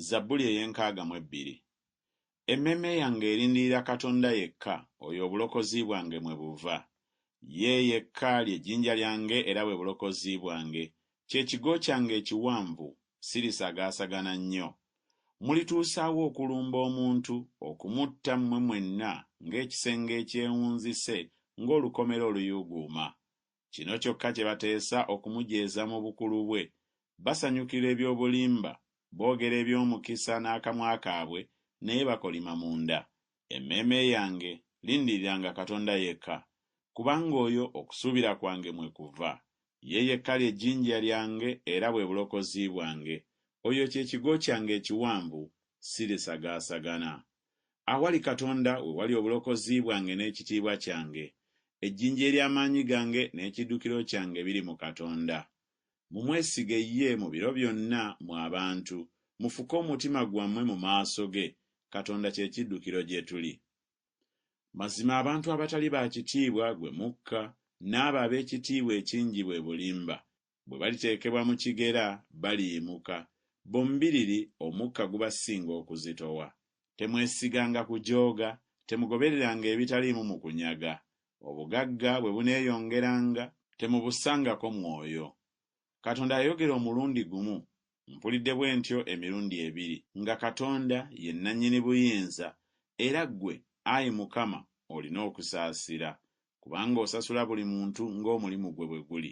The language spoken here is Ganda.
Zabbuli ey'enkaaga mu ebbiri. Emmeeme yange erindirira Katonda yekka, oyo obulokozi bwange mwe buva. Ye yekka lye jjinja lyange era bwe bulokozi bwange, kye kigo kyange ekiwanvu, sirisagaasagana nnyo. Mulituusaawa okulumba omuntu, okumutta mmwe mwenna ng'ekisenge ekyewunzise, ng'olukomera oluyuuguuma. Kino kyokka kye bateesa okumujeeza mu bukulu bwe. Basanyukira eby'obulimba, boogera eby'omukisa n'akamwa kaabwe, naye bakolima munda. Emmeeme yange, lindiriranga Katonda yekka, kubanga oyo okusuubira kwange mwe kuva. Ye yekka lye jjinja lyange era bwe bulokozi bwange. Oyo kye kigo kyange ekiwanvu, sirisagaasagana. Awali Katonda we wali obulokozi bwange n'ekitiibwa kyange, ejjinja ery'amaanyi gange n'ekiddukiro kyange biri mu Katonda. Mumwesige ye mu biro byonna, mmwe abantu, mufuke omutima gwammwe mu maaso ge, Katonda kye kiddukiro gye tuli. Mazima abantu abatali ba kitiibwa gwe mukka, n'abo ab'ekitiibwa ekingi bwe bulimba. Bwe baliteekebwa mu kigera, baliyimuka. Bombiriri omukka gubasinga okuzitowa. Temwesiganga kujooga, temugobereranga ebitaliimu mu kunyaga. Obugagga bwe buneeyongeranga, temubussangako mwoyo. Katonda yayogera omulundi gumu, mpulidde bwe ntyo emirundi ebiri, nga Katonda ye Nnannyini Buyinza, era ggwe, ayi Mukama, olina okusaasira. kubanga osasula buli muntu ng'omulimu gwe bwe guli.